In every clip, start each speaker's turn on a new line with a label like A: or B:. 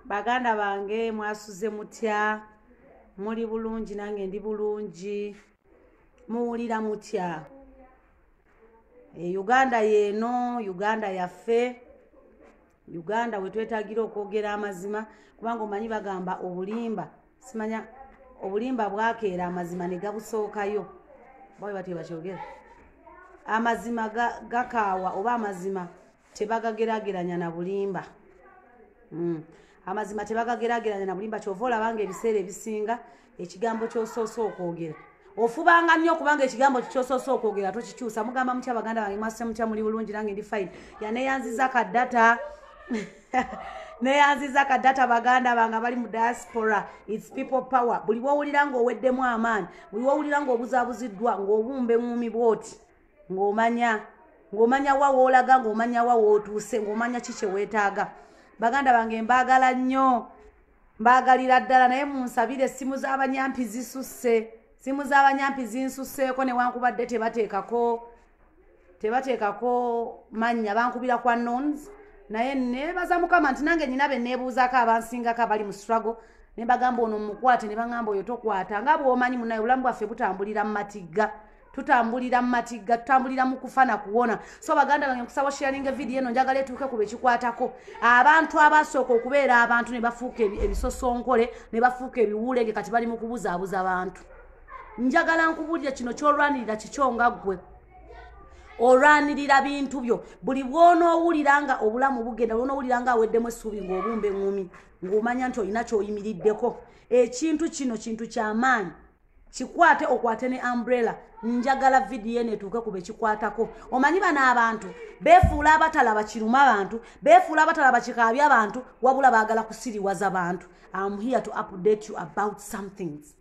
A: baganda bange mwasuze mutya muli bulungi nange ndi bulungi muwulira mutya e uganda yeeno uganda yaffe uganda wetwetagira okwogera amazima kubanga omanyi bagamba obulimba simanya obulimba bwakeera amazima negabusookayo bawe batyo bakyogera amazima gakaawa oba amazima tebagagerageranya na bulimba mm. amazima tebagagerageranya na bulimba kyova olabanga ebiseera ebisinga ekigambo kyosoose okwogera ofubanga nnyo kubanga ekigambo kikyosoose okwogera tokikyusa mugamba mutya baganda bange mwase mutya muli bulungi nange ndi fine yaneyanziza ka data neyanziza ka data baganda bange bali mu diaspora its people power buli wowulira ngaoweddemu amaani buli wowulira ngaobuzabuziddwa ngaobumba eŋumi bwoti ng'omanya ng'omanya wa woolaga ng'omanya wa wootuuse ng'omanya ki kye weetaaga baganda bange mbaagala nnyo mbaagalira ddala naye munsabire essimu z'abanyampi zisusse simu z'abanyampi zinsusseeko newankubadde tebateekako tebateekako mannya bankubira kwa nons naye nebaza mukama nti nange nyina be nebuuzako abansingako abali mu struggle nebagamba ono mukwate nebagamba oyo tokwata nga bwomanyi munaye obulamu bwaffe butambulira mu matigga tutambulira mu matigga tutambulira mu kufa na kuwona so baganda bange nkusaba sharinga vidiyo eno njagala etuuke ku bekikwatako abantu abasooka okubeera abantu ne bafuuka ebisosonkole ne bafuuka ebiwuulenge kati bali mu kubuzaabuza abantu njagala nkubulira kino kyolwanirira kikyo nga ggwe olwanirira bintu byo buli bwonoowulira nga obulamu bugenda lwonoowulira nga aweddemu essuubi ng'obumba eŋŋumi ng'omanya nti olina kyoyimiriddeko ekintu kino kintu kyamaanyi kikwate okwate ne umbrella njagala vidiyo eno etuuke ku bekikwatako omanyi bano abantu befuula abatalaba kiruma bantu befuula abatalaba kikaabya abantu wabula baagala kusiriwaza bantu am here to update you about somethings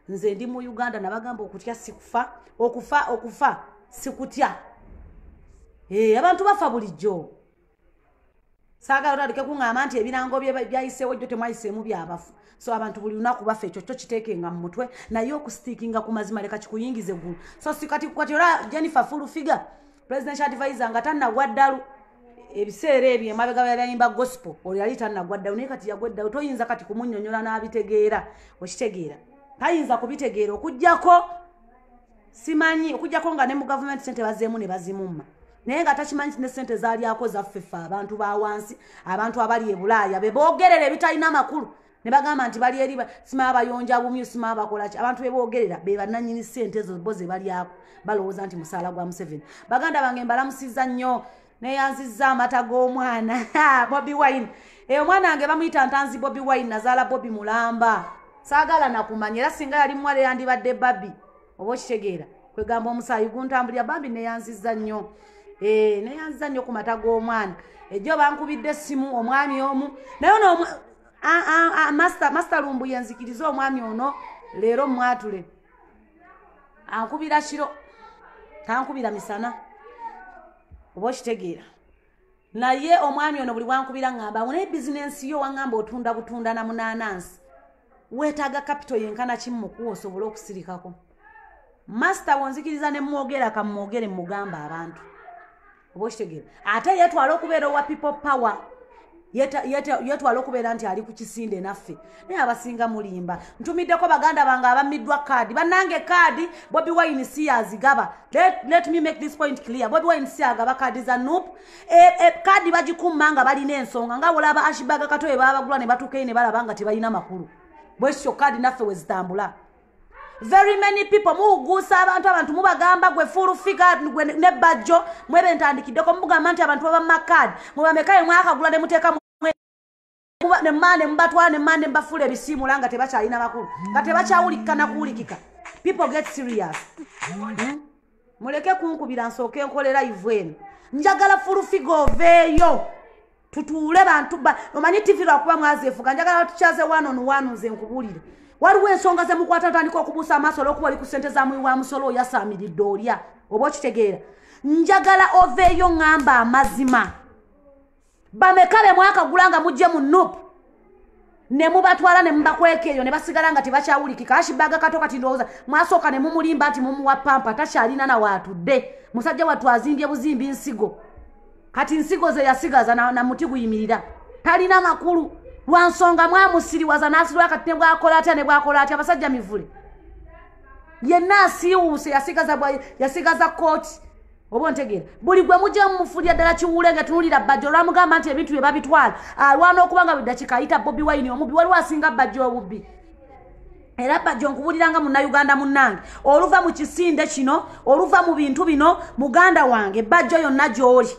A: nze ndi mu uganda nabagamba okutya sikufa okufa okufa sikutya e, abantu bafa bulijjo saagala otandike kuŋŋamba nti ebirango byayiseewo jjo temwayiseemu byabafu so abantu buli lunaku baffe ekyo kyo kiteekenga mu mutwe naye okusitiikinga ku mazima leka kikuyingize eggulu so sikati kati ola jennifer full figure president advisor nga tannagwa ddalu ebiseera ebyo emabega byabayimba gospel oyo yali tannagwa ddalu naye kati yagwa eddalu toyinza kati kumunyonyola n'abitegeera okitegeera tayinza kubitegeera okugyako simanyi okujjako nga ne mu gavumenti sente bazeemu ne bazimumma naye nga takimanyi ti ne sente zalyako zaffefe abantu ba wansi abantu abali e bulaaya be boogerera ebitalina amakulu ne bagamba nti bali eri sima abayonja bumyu sima abakolaki abantu be boogerera be bannanyini sente ezo bo ze balyako balowooza nti musaala gwa museveni baganda bange mbalamusiza nnyo neyanziza amata g'omwana bobi wine eyo eh, omwana wange bamuyita ntanzi bobi wine nazaala bobi mulamba saagala nakumanya era singa yali muwala eyandibadde babi oba okitegeera kwegamba omusaayi guntambulira bambi neyanziza nnyo eh, neyanziza nnyo ku mata g'omwana ejjo bankubidde essimu omwami omu naye no master lumbu yenzikiriza omwami ono leero mwatule ankubira kiro tankubira misana oba okitegeera naye omwami ono buli bwankubira ngamba naye bizinensi yo wangamba otunda butunda na munaanansi weetaaga kapito yenkana kimu mukuwa osobole okusirikako masita wonzikiriza ne mwogera kamwogere mugamba abantu oba okitegeera ate yetwala okubeera owa people power yetwala okubeera nti ali ku kisinde naffe naye abasinga mulimba ntumiddeko baganda bange abamiddwa kaadi bannange kaadi bobi wine si yazigaba let me make this point clear bobi wine si agaba kaadi za nup e, e, kaadi bagikumma nga balina ensonga nga olaba ashibaga kato ebabagula ne batuukeyo ne balaba nga tebalina makulu bwekityo kaadi naffe wezitambula very many people muwuguusa abantu abantu mubagamba gwe full figure gwe ne bajjo mwebe ntandikiddeko mubugamba nti abantu baba makad mubamekaye mwakagula nemuteeka nemane mubatwala nemane mubafuula ebisiimula nga tebakyalina bakulu nga tebakyawulikika nakuwulikika people get serious mm -hmm. muleke kunkubira nsooke nkolera ivu eno njagala fulufiga oveeyo tutuule bantu omanyi tivi lwakuba mwazeefuga njagala tukyaze wano nuwano nze nkubulire waliwo ensonga zemukwata otandika okubuusa amaaso olwokuba oli ku sente za muwi wa musolo oyasaamiridde olya oba okitegeera njagala oveeyo ŋŋamba amazima bameka be mwakagula nga mujje mu nup ne mubatwala ne mubakweka eyo ne basigala nga tebakyawulikika ashibaga kato kati ndowooza mwasooka ne mumulimba nti mumuwa pampa takyalina na waatudde musajja wattu azimbye buzimbi nsigo kati nsigo ze yasigaza na, na muti guyimirira talina makulu lwa nsonga mwamusiriwaza n'asiriwa kati ne bwakola atya ne bwakola atya abasajja mivule yenna asiiwuuse yasigaza yasigaza kooti oba ontegeera buli gwe mujja mumufulira ddala kiwuule nga tunulira bajjo olwamugamba nti ebintu bye babitwala alwana ah, okuba nga buli dakika ayita bobi wayini omubbi waliwo asinga bajjo obubbi era bajjo nkubuliranga munnauganda munnange oluva mu kisinde kino oluva mu bintu bino muganda wange bajjo yonna gy'oli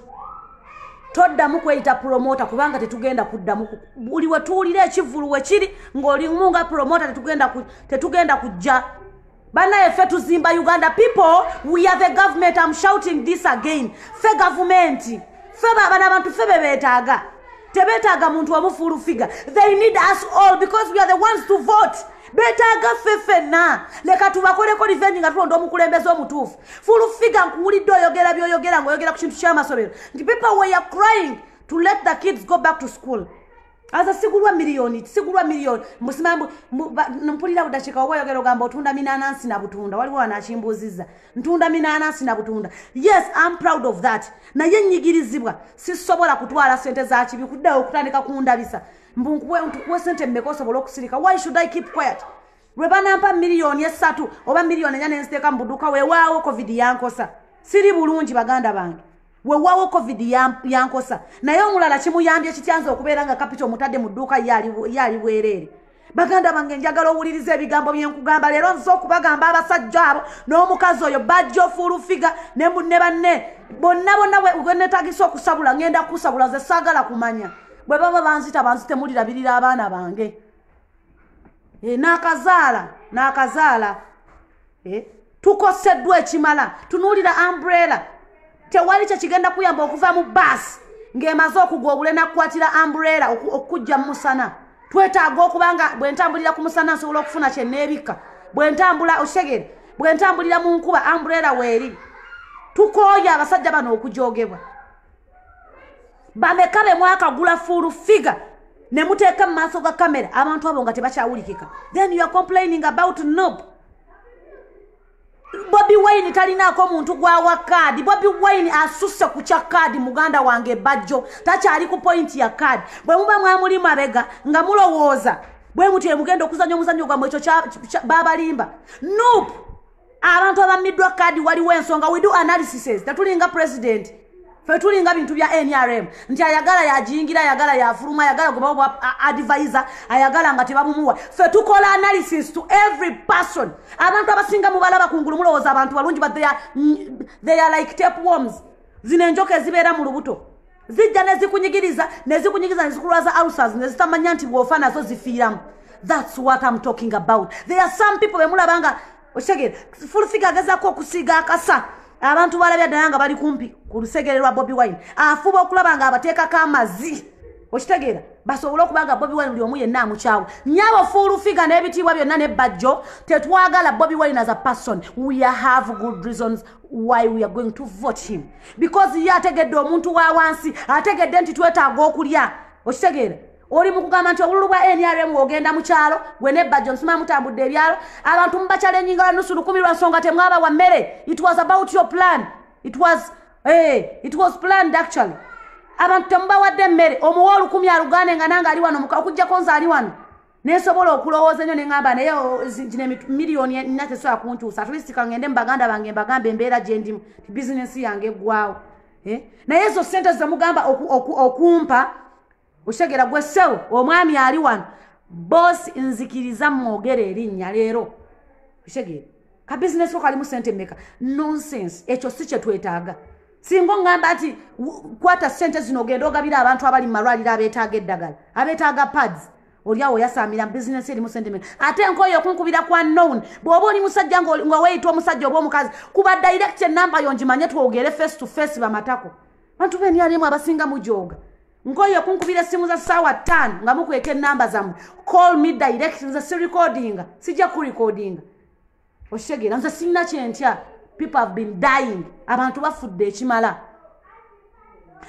A: toddamu kweyita promota kubanga tetugenda kuddamu buli wetuwulira ekivulu wekiri ng'olimu nga promota tetugenda kujja banaye ffe tuzimba uganda people we are the government am shouting this again ffe gavumenti ffe bana abantu ffe bebetaaga tebetaaga muntu omufuulu figa they need us all because we are the ones to vote betaaga ffe ffenna leka tubakoleko revenge nga tulonda omukulembeze omutuufu fuulu figa nkuwulidde oyogera byoyogera ngaoyogera ku kintu kyamasobero nti people were crying to let the kids go back to school aza sigulwa miliyoni sigulwa miliyoni musimambu mpulira budakika oba oyogera ogamba otunda minanansi na butunda waliwo wanakimbuuziza ntunda minanansi na butunda yes am proud of that naye nyigirizibwa sisobola kutwala sente zakibi kuddayo okutandika kundabisa mbunkuwe sente mmeka osobola okusirika why should i keep quiet lwe banampa miliyoni esatu oba miliyoni enya nenziteeka mu buduuka wewaawo covid yankosa siri bulungi baganda bange wewawo covid yankosa naye omulala kimuyambye kityanza okubeera nga kapita omutadde mu dduuka ye ali bwereere baganda bange njagala owuliriza ebigambo byenkugamba leero nze okubagamba abasajja abo n'omukazi oyo bajja ofuulufiga ne banne bonna bonna wenetagisa okusabula ngenda kusabula ze saagala kumanya bwe baba banzita banzitemulirabirira abaana bange eh, n'akazaala n'akazaala eh, tukoseddwa ekimala tunuulira ambrela tewali kyekigenda kuyamba okuva mu baasi ng'emaze okugwa obulena kukwatira ambrela okukujja mu musana twetaaga okuba nga bwe ntambulira ku musana nsobola okufuna kyenneebikka bwe ntambula okitegere bwe ntambulira mu nkuba ambrela weeri tukooye abasajja bano okujoogebwa bameka be mwakagula full figure ne muteeka mu maaso ga kamera abantu abo nga tebakyawulikika then youare complaining about nob bobi wine talinaako omuntu gwawa kaadi bobi wine asusse ku kya kaadi muganda wange ebajjo takyali ku pointi ya kaadi bwe muba mwamuli mabega nga mulowooza bwe mutyo emugenda okuzanya omuzanyo gwamwe ekyo babalimba nup abantu abammiddwa kaadi waliwo ensonga we do analysises tetulinga president fe tulinga bintu bya nrm nti ayagala yajingira ayagala yafuluma ayagala gwebawa advisor ayagala nga tebamumuwa fe tukola analysis to every person abantu abasinga mubalaba kungulu mulowooza abantu balungi but they are, mm, they are like tape worms zino enjoka ezibeera mu lubuto zijja nezikunyigiriza nezikunyigiriza nezikulwaza alsas nezitamanya nti bwofa nazo zifiiramu thats what im talking about there are some people bemulaba nga okitegere fulfiga agezako okusiiga akasa abantu balabya ddala nga bali kumpi ku lusegere lwa bobi wine afuba okulaba nga abateekako amazi okitegeera basobole okuba nga bobi wine buli omu yenna amukyawa nyabo fulfiga n'ebitiibwa byonna nebbajjo tetwagala bobi wine as a person we have good reasons why we are going to vote him because ye ategedde omuntu wa wansi ategedde nti twetaaga okulya okitegeera oli mu kugamba nti obululu bwa nrm ogenda mu kyalo gwe nebajjo nsima mutambudde ebyalo abantu mubakyalennyinga banusu lukumi lwa nsonga temwaba wa mmere it was about your plan it was, hey, eh, it was planned actually abantu temubawadde emmere omuwa olukumi alugane nga nange ali wano okujjako nze ali wano nensobola okulowooza enyo neŋamba naye zino miliyoni nina tesobola kuntuusa atlistika ngende mu baganda bange mbagamba embeera gye ndimu ti bizinensi yange eggwawo eh? naye ezo sente zemugamba okumpa okitegera gwe sewo omwami ali wano boosi nzikiriza mwogere erinnya leero okitegere ka bizinesi ko kalimu sente meka nonsense ekyo si kyetwetaaga singa oŋŋamba nti kwata ssente zino ogenda ogabira abantu abali mu malwaliro abeetaaga eddagala abeetaaga pads oliawo oyasamira business erimu sentiment ate enkoyo okunkubira kwa known bw'oba oli musajja nga weeyita omusajja oba omukazi kuba direct enamba yo ngimanye twogere face to face bamatako bantu benialimu abasinga mujooga nkoyo okunkubira essimu za ssaawa ttaano nga mukweka enamba zammwe call me direct nze sirikodinga sijja kurekodinga okitegeera nze sinna kyentya people have been dying abantu bafudde ekimala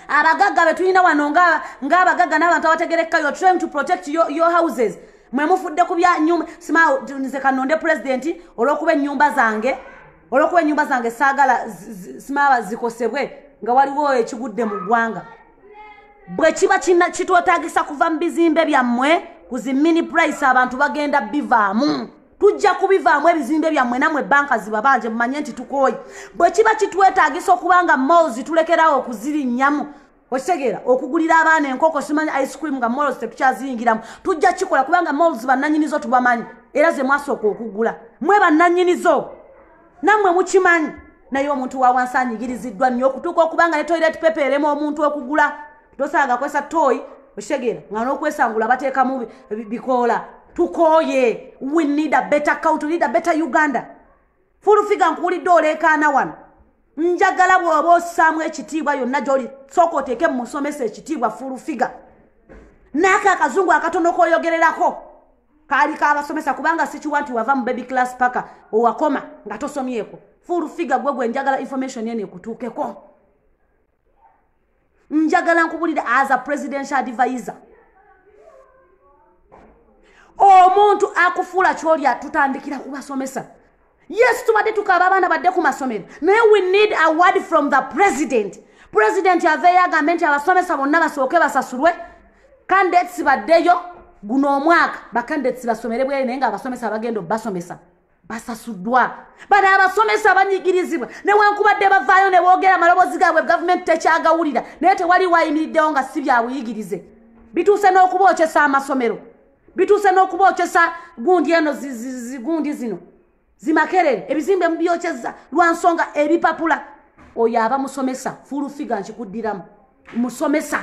A: abagagga betulina wano ngaabagagga n'abantu abategerekka you're trying to protect your, your houses mwe mufudde ku bya nyumba simaa nze kanonde pulezidenti olw'okuba ennyumba zange olwokuba enyumba zange saagala simaba zikosebwe nga waliwo ekigudde mu ggwanga bwe kiba kitwetagisa kuva mu bizimbe byammwe ku zi mini price abantu bagenda bivaamu tujja kubivaamu ebizimbe byammwe namwe banka zibabanje mumanye nti tukooye bwe kiba kitwetaagisa okuba nga mols tulekerawo okuzirinnyamu okitegeera okugulira abaana enkoko simanya ice cream nga mols tetukyaziyingiramu tujja kikola kubanga mols bannanyinizo tubamanyi era ze mwasooka okugula mwe bannanyinizo nammwe mukimanyi naye omuntu wawansi anyigiriziddwa nnyo okutuuka okuba nga ne toilet pepe erema omuntu okugula tosanga kwesa toyi okitegera nga nokwesangula batekamu bikoola tukoye we need a better count need a better uganda fulufiga nkuwulidde oleekaana wano njagala bwoba osaamu ekitiibwa yonna gyoli sooka oteeke mumusomesa ekitiibwa fulufiga naako akazungu akatono koyogererako kaali kabasomesa kubanga sikiwa nti wava mu baby class paka owakoma nga tosomyeko fulufiga gwe gwe njagala information eno ekutuukeko njagala nkubulire as a presidential advisor omuntu akufuula kyolya tutandikira kubasomesa yes tubadde tukaba abaana badde ku masomero naye we need a word from the president president aveeyo agambe nti abasomesa bonna basooke basasulwe candidates baddeyo guno omwaka bacandidates basomere bwere naye nga abasomesa bagenda obasomesa basasuddwa bano abasomesa abanyigirizibwa newankubadde bavaayo ne boogera amaloboozi gaabwe gavumenti tekyagawulira naye tewali wayimiriddewo nga si byabuyigirize bituuse n'okubookyesa amasomero bituuse n'okubookyesa gundi eno zigundi zino zimakerere ebizimbe mubyokyeza lwa nsonga ebipapula oyo aba musomesa fulufiga nkikuddiramu musomesa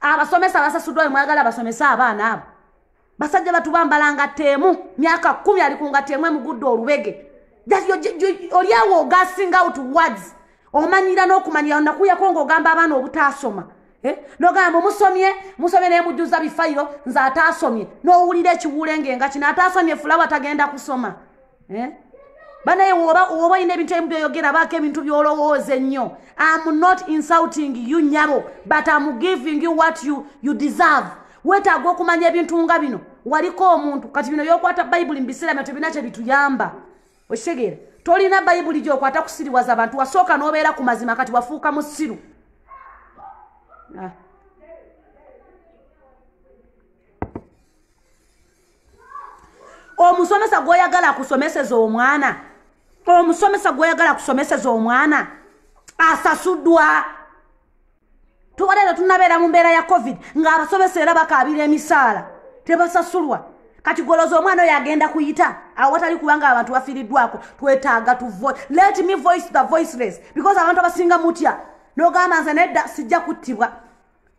A: abasomesa basasuddwa wemwagala basomesa abaana abo basajja batu bambala ngatto emu myaka kumi ali ku ngatto emu emugudde olubege olyawo ogasing out words omanyira n'okumanyira onakuyako ng'ogamba abaana obutaasoma eh? nogamba musomye musomye naye mujjuza bifayiro nze ataasomye n'owulira ekiwuule ng'enga kino ataasomye fulawa tagenda kusoma eh? banaye woba olina ebintu ebimu byoyogera baako ebintu byolowooza ennyo am not insulting you nyabo but am giving you what you, you deserve wetaaga okumanya ebintu nga bino waliko omuntu kati bino yokwata bayibuli mubiseera bino tebina kye bituyamba okitegeera tolina bayibuli gyokwata kusiriwaza abantu wasooka nobeera ku mazima kati wafuuka musiru ah. omusomesa gwoyagala kusomeseza omwana omusomesa gwoyagala kusomeseza omwana asasudwa tuwalero tunabeera mu mbeera ya covid ng'abasomesa era bakaabira emisaala tebasasulwa kati goloza omwana oyo agenda kuyita awo watali kubanga abantu bafiiriddwako twetaaga tu let me voice the voiceless because abantu abasinga mutya nogamba nze nedda sijja kuttibwa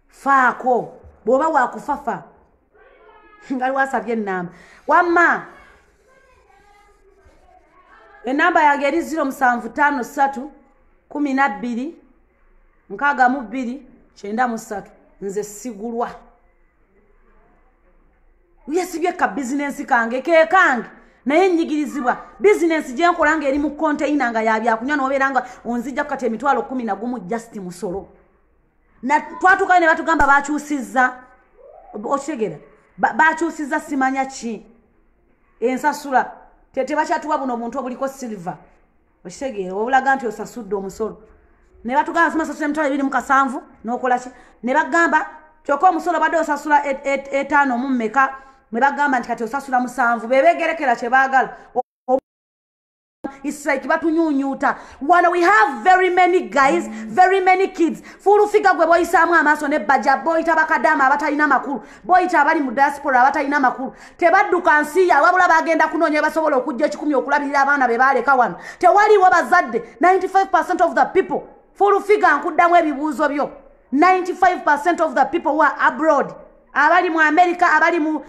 A: faako bw'oba wakufafa ngaliwo asabye enamba wamma enamba yange eri ziro musanvu tano satu kumi nabbiri nkaaga mu bbiri kyenda mu satu nze sigulwa yesibye ka bizinensi kange kekange naye nyigirizibwa bizinensi gyenkola nga eri mu konteyina nga yabyakunywa nobeera nga onzijja kukati emitwalo kumi nagumu just musolo twatukayo ne batugamba bakyusizza okitegera bakyusizza simanya ki ensasula tebakyatuwa buno obuntu obuliko silva okitegeera obulaga nti osasudde omusolo ne batugamba simasasula emitwalo ebiri mu kasanvu n'okolaki ne bagamba kyokka omusolo badde osasula e, e, etaano mu mmeka ne bagamba nti kati osasula musanvu bebegerekera kye baagala It's like batunyunyuta wano we have very many guys very many kids fulufiga gwe boyisaamu amaaso ne baja boyita bakadaama abatalina makulu boyita abali mu diaspora abatalina makulu tebadduka nsi ya wabula bagenda kunoonya basobola okujja ekikumi okulabirira abaana be baaleka wano tewaliwo bazadde 95 percent of the people fulufiga nkuddamu ebibuuzo byo 95 percent of the people who are abroad abali mu amerika abali mu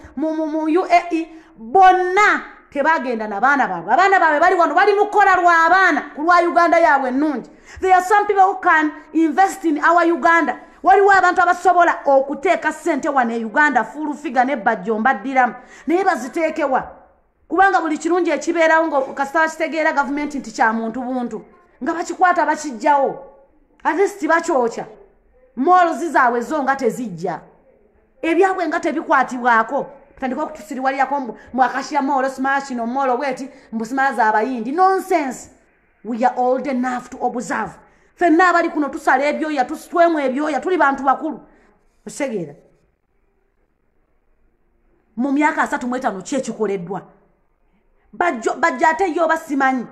A: uae bonna tebagenda nabaana baabwe abaana baabwe bali wano bali mukukola lwabaana ku lwa uganda yaabwe ennungi there are some people who can invest in our uganda waliwo abantu abasobola okuteeka ssente wano e uganda fuulu figa ne bajjo mbaddiramu naye baziteekewa kubanga buli kirungi ekibeerawo nga kasita bakitegeera gavumenti nti kya muntu buntu nga bakikwata bakijjawo atesti bakyokya moolozi zaabwe zo nga tezijja ebyabwe nga tebikwatibwako tandika okutusiriwalirako mwakashiya moolo simashino moolo bweti mbusimaa zaabayindi nonsense we are old enough to observe fenna abali kuno tusala ebyoya tusitwemu ebyoya tuli bantu bakulu osegeera mu myaka asatu mu etaano ki ekikoleddwa bajja ate ye oba simanyi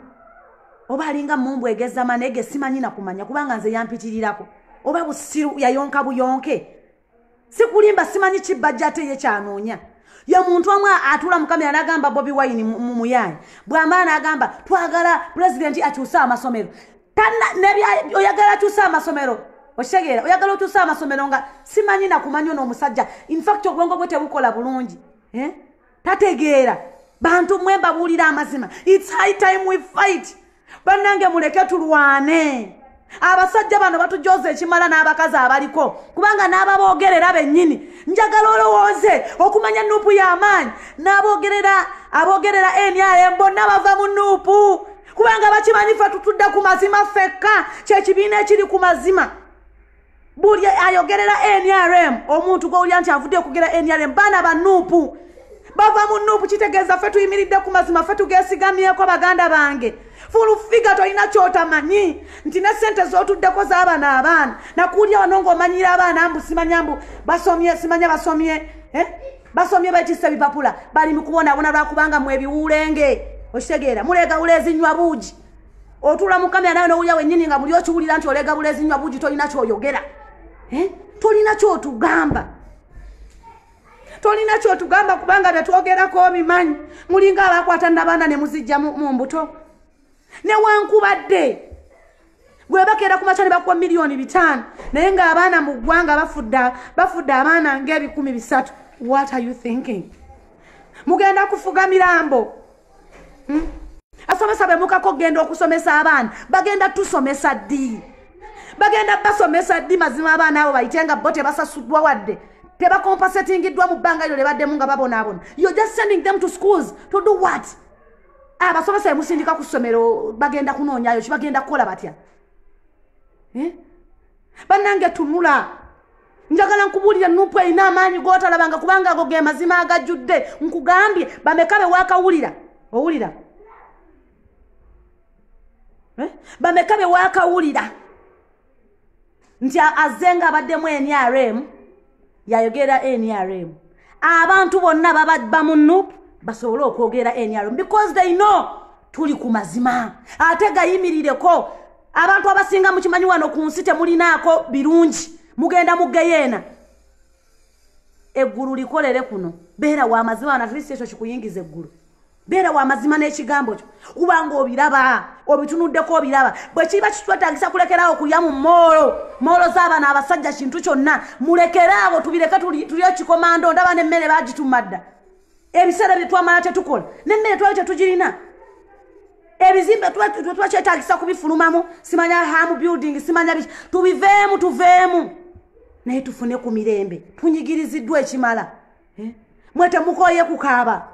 A: oba alinga mumbu egezama naye ge simanyi nakumanya kubanga nze yampitirirako oba busiru yayonka buyonke sikulimba simanyi ki bajja ate ye kyanoonya ye muntu omu atula mukamera nagamba bobi wine mumuyaanyi bwamala nagamba twagala pulezidenti akyuse amasomero oyagala kyusa amasomero okitegeera oyagala okyusa amasomero nga simanyi nakumanyi ono omusajja infact obwongo bwe tebukola bulungi eh? tategeera bantu mwe mbabuulira amazima its high time we fight bannange muleke tulwane abasajja bano batujooza ekimala n'abakazi abaliko kubanga n'ababoogerera bennyini njagala olowooze okumanya nuupu y'amaanyi n'aboogerera aboogerera nrm bonna bava mu nuupu kubanga bakimanyi ffe tutudde ku mazima ffekka kyekibiina ekiri ku mazima buli ayogerera nrm omuntu gwowulira nti avudde okugera nrm baana banuupu bava mu nuupu kitegeeza ffe tuyimiridde ku mazima ffe tugesigamyeko baganda bange fulufiga tolina kyotamanyi nti ne sente zotuddeko zabana abaana nakuulya wano ngaomanyira abaana mbu simanya mbu basomye simanya basomye eh? basomye bekisa bipapula bali mukubonabona lwakubanga mwe ebiwulenge okitegeera muleega wulezinywa buugi otuula mukamera nawe nowulira wenyini nga muli okiwulira nti oleega bulezinywa buugi tolina kyoyogera eh? tolina kyotugamba tolina kyotugamba kubanga byetwogerako obimanyi mulinga abakwata nabaana nemuzijja mu mbuto newankubadde gwebakeera ku makya ne bakuwa miliyoni bitaano naye ng'abaana mu ggwanga bafudde abaana ng'ebikumi bisatu what are you thinking mugenda kufuga mirambo hmm? asomesa be mukako okugenda okusomesa abaana bagenda tusomesa ddi bagenda basomesa ddi mazima abaana abo bayite nga bo tebasasuddwa wadde tebakompasetingiddwa mu bbanga lyo lye baddemu nga babonaabona you're just sending them to schools to do what abasomesa emusindika ku ssomero bagenda kunoonyayo ki bagenda kukola batya eh? bannange tunula njagala nkubuulira nupu erina amaanyi gotalabanga kubanga ago ge mazima agajjudde nkugambye bameka bewakawulira owulira eh? bameka bewakawulira nti azze nga abaddemu nrm yayogera nrm abantu bonna babadba mu nup basobole okwogera nrm because they know tuli ku mazima ate gayimirireko abantu abasinga mukimanyi wano ku nsi temulinaako birungi mugenda mugeyeena eggulu likolere kuno beera wa mazima wano atleast ekyo kikuyingiza eggulu beera wa mazima n'ekigambo kyo kuba nga obiraba obitunuddeko obiraba bwe kiba kitwetagisa kulekeraawo kulya mu moolo moolo z'abaana abasajja kintu kyonna mulekeraawo tubireke tuli ekikomando ndaba n'emmere bagitumadda ebiseera bye twamala tetukola n'emmere twali tetugirina ebizimbe twetwakyetagisa kubifulumamu simanya hamu building simanya biki tubiveemu tuveemu naye tufune ku mirembe tunyigiriziddwa ekimala eh? mwe temukoye kukaaba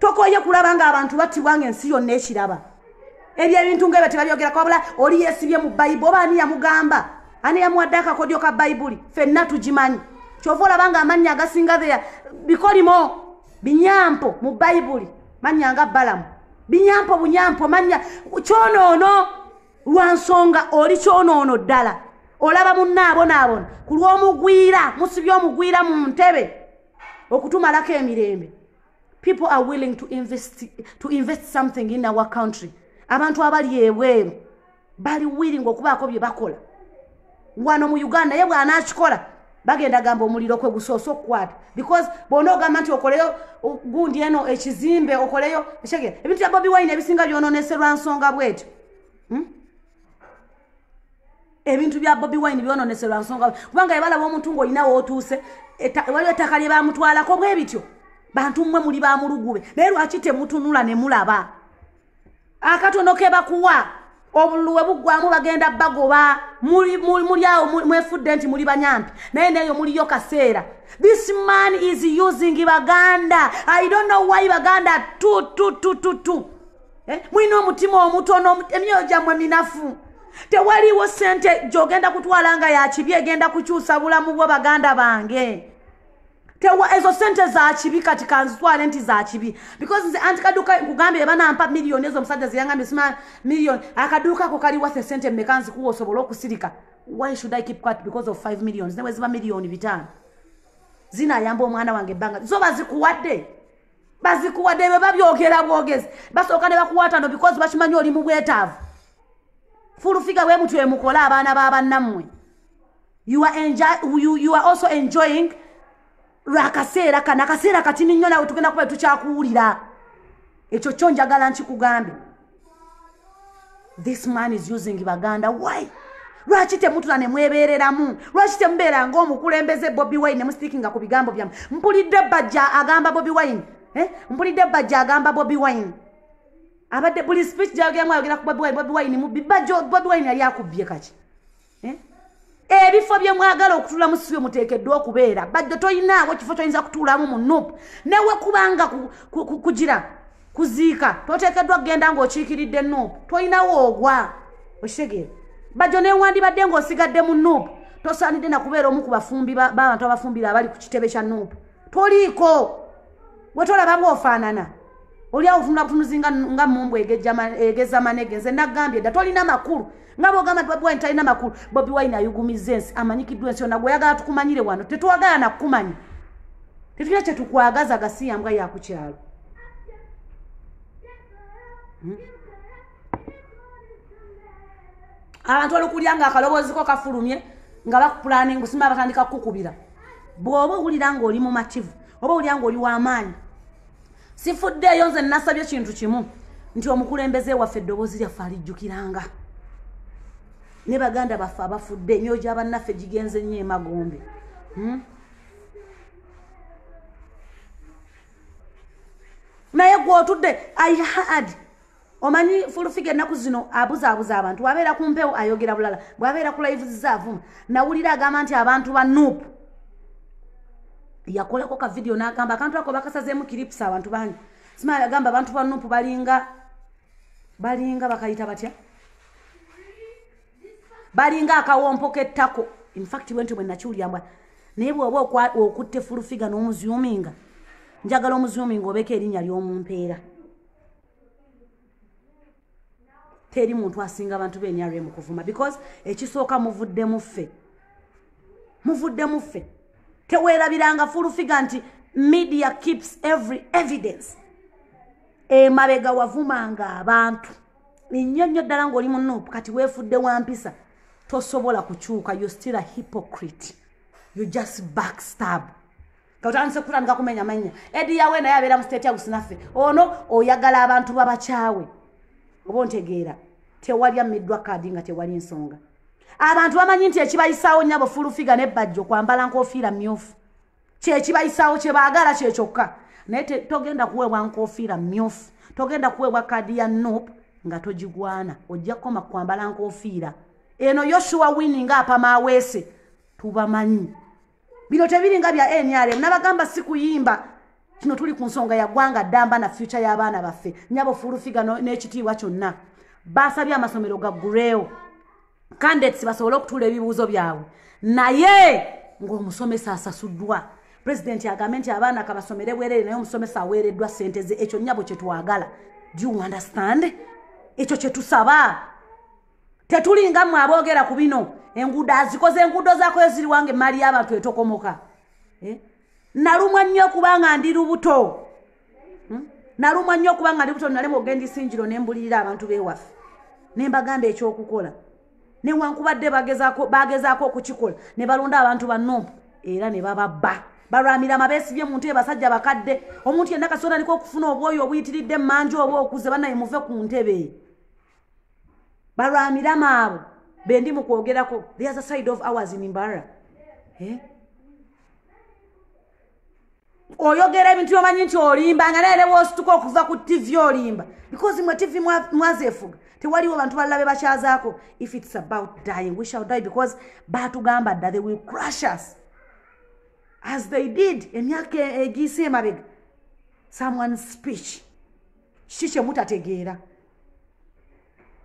A: tokoye kulaba nga abantu battibwa nga ensi yonna ekiraba ebyo ebintu nga ebyo tebabyogerako wabula oli yesibye mu bayibu oba ani yamugamba ani yamuwadde akakodyo ka bayibuli fenna tugimanyi kyova olaba nga amannya agasinga theya bikolimo binyampo mu bayibuli mannya nga balamu binyampo bunyampo mannya kyonoono lwa nsonga oli kyonoono ddala olaba munnaabonaabona ku lw'omugwira musibye omugwira mu ntebe okutumalako emirembe people are willing to invest, to invest something in our country abantu abali ebweru bali willing okubaako bye bakola wano mu uganda naye bwanakikola bagenda gamba omuliro kwe gusoose okukwata because bwona ogamba nti okoleyo gundi eno ekizimbe okoleyo ekege ebintu bya bobi wine ebisinga byononeserwa nsonga bwetyo hmm? ebintu bya bobi wine byononeserwa nsonga kubanga ebalaba omuntu ngaolina wootuuse waliwo ettaka lye bamutwalako bwe bityo bantu mmwe muli bamulugube naye lwaki temutunula ne mulaba akatono ke bakuwa obululu we buggwamu bagenda bagoba muli awo mwefudde nti muli banyampi naye neeyo muliyo kaseera this man is using baganda i don't know why baganda tu tu tu tu tu eh? mulina omutima omutono emyoyo gyammwe minafu tewaliwo sente gyogenda kutwala nga yakibi egenda kukyusa bulamu bwo baganda bange tewa ezo sente zakibi kati kanzitwale nti zakibi because nze anti kaduuka nkugambye banampa miliyoni ezo omusajja zeyangambye sima miliyoni akaduuka ako kali wathe sente mmeka nzikuwa osobole okusirika why should i keep quat because of five millions newe ziba miliyoni bitaano zinayamba omwana wange ebbanga zo bazikuwadde bazikuwadde bwe babyogera bwogezi basooka ne bakuwatano because bakimanyi oli mu bwetaavu fulufiga bwe mutwe mukola abaana ba bannammwe you are, enjoy, you, you are also enjoying lwakaseera kana akaseera katini nnyo nawe tugenda kuba tukyakuwulira ekyo kyo njagala nkikugambe this man is using baganda why lwaki temutula ne mwebeereramu lwaki temubeera ngaomukulembeze bobi wine nemusiikinga ku bigambo byamu mpulidde bajja agamba bobi wine eh? mpulidde bajja agamba bobi wine abadde buli speech gyagemu ayogera ku bobi wine bobi wine mubbi bajjo bobi wine yali akubbye kaki eh? ebifo bye mwagala okutulamu si bye muteekeddwa okubeera bajjo toyinaawo kifo kyoyinza kutuulamu mu nup newe kubanga kugira kuziika toteekeddwa kugenda ng'okiikiridde nup toyinawo ogwa okitegeera bajjo newandibadde ng'osigadde mu nup tosaanidde nakubeera omu ku bafumbi b'abantu abafumbira abali ku kitebe kya nup toliiko wetolaba nga ofaanana oli awo tunula butunuzi nga mumbu egeza manege nze nagambye dda tolina makulu nga bogamba nti bobiwine talina makulu bobi wine ayugumiza ensi amanyikiddwa ensi yona gweyagala tukumanyire wano tetwagala nakukumanya tetulina kyetukwagaza gasiyambwa yakukyalo hmm? abantu olukulya nga akalobooziko kafulumye nga bakupulaninga sima batandika kukukubira bw'oba owulira ng'oli mumativu oba owulira ng'oli w'amaanyi sifuddeeyo nze nasabye kintu kimu nti omukulembeze waffe eddoboozi lyaffe alijjukiranga ne baganda baffe abafudde emyoyo gya bannaffe gigenze nnyo emagombe hmm? naye gwotudde i had omanyi fulufiga ennaku zino abuzaabuza abantu bwabeera ku mpewo ayogera bulala bwabeera ku layivuziza avuma nawulira agamba nti abantu ba nup yakolako ka vidiyo n'agamba akantu ako bakasazeemu kiripusi abantu bangi simaa yagamba abantu ba nup balinga balinga bakayita batya balinga akawompo k'ettako infact bwenti bwe nakiwulira mbwa naye bwoba okutte fulufiga n'omuzuminga njagala omuzuminga obeeko erinnya ly'omumpeera teri muntu asinga abantu be nrm kuvuma because ekisooka muvuddemu ffe muvuddemu ffe teweerabiranga fulufiga nti media keeps every evidence emabega wavumanga abantu nnyo nnyo ddala ng'oli mu nup kati weefudde wa mpisa tosobola kukyuka you still a hypocrite you just backstab otandise kutandika kumenya manya edi yawe naye abeera mu state house naffe ono oyagala abantu babakyawe oba ontegeera tewali ammiddwa kaadi nga tewali nsonga abantu bamanyi nti ekibayisaawo nyabo fulufiga nebajjo kwambala nkofiira myufu kyekibayisaawo kyebaagala kyekyokka naye togenda kuweebwa nkofiira myufu togenda kuweebwa kaadi ya nup nga togigwana ojja kukoma kwambala nkofiira eno yoshuwa wini nga apamaaweese tubamanyi bino tebiringa bya nrm nabagamba si kuyimba kino tuli ku nsonga yagwanga ddamba na fyuca y'abaana baffe nyabo fuulufiga n'ekitiibwa kyonna baasabye amasomero gagguleewo candidates basobole okutuula ebibuuzo byabwe naye ng'omusomesa asasuddwa pulezidenti agambe nti abaana kabasomere bwerere naye omusomesa aweereddwa ssente ze ekyo nnyabo kye twagala do you understand ekyo kye tusaba tetulinga mwe aboogera ku bino enguudo azikoze enguudo zakoyo ziri wange emmaali y'abantu etokomoka eh? nalumwa nnyo okubanga ndi lubuto hmm? nalumwa nnyo okubanga ndi buto nalemu ogenda isingiro ne mbulirira abantu bewaffe ne mbagamba ekyokukola newankubadde bagezaako okukikola ne balonda abantu bannompu era ne bababba balwamira amabeesi bye muntu ebasajja bakadde omuntu yenna kasobola aliko okufuna obwoyo obuyitiridde emmanju oba okuze banaye muve ku ntebe balwamira maabo bendi mu kwogerako there's a side of ours in mbara eh? oyogera ebintu byomanyi nti olimba nga naye newosituka okuva ku tivi olimba because mwe tivi mwazefuga tewaliwo bantu balala be bakyazaako if its about dying we shall die because batugamba dda they will crush us as they did emyaka egiise emabega someone speech kiki kyemutategeera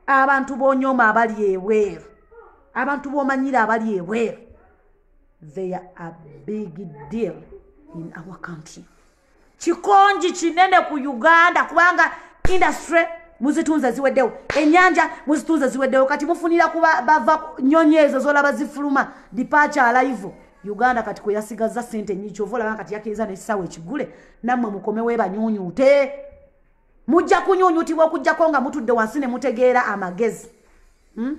A: abantu bonyoma abali ebweru abantu bomanyira abali ebweru they are a big deal in our country kikonji kinene ku uganda kubanga industry muzitunze ziweddewo enyanja muzitunze ziweddewo kati mufunira kuba bava nyonyi ezo zolaba zifuluma dipacha alaivo uganda kati kweyasigazza sente nyingi kyova olaba kati yakiriza nekisawo ekigule nammwe mukomewo ebanyunyute mujja kunyunyutibwa okujjako nga mutudde wansi ne mutegeera amagezi hmm?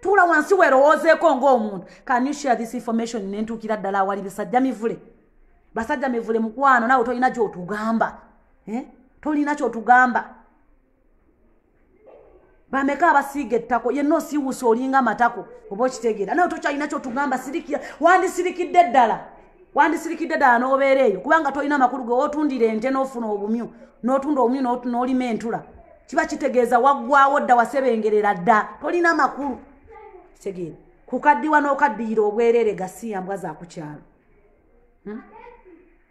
A: tuula wansi werowoozeeko ngaomuntu can you share this information nentuukira ddala awali bisajja mivule basajja mivule mukwano nawe tolina kyotugamba eh? tolina kyotugamba bameka abasiiga ettako yenna osiiwusa olinga amatako oba okitegeera naye tokyalina kyotugamba sirikira wandisirikidde ddala wandisirikidde ddala n'obeera eyo kubanga tolina amakulu ge wotundira ente n'ofuna obumyu n'otunda obumyu n'olima entula kiba kitegeeza waggwawo dda wasebengerera dda tolina makulu kitegeera kukaddiwa n'okaddiyira obwerere gasiya mbwa zakukyalo hmm?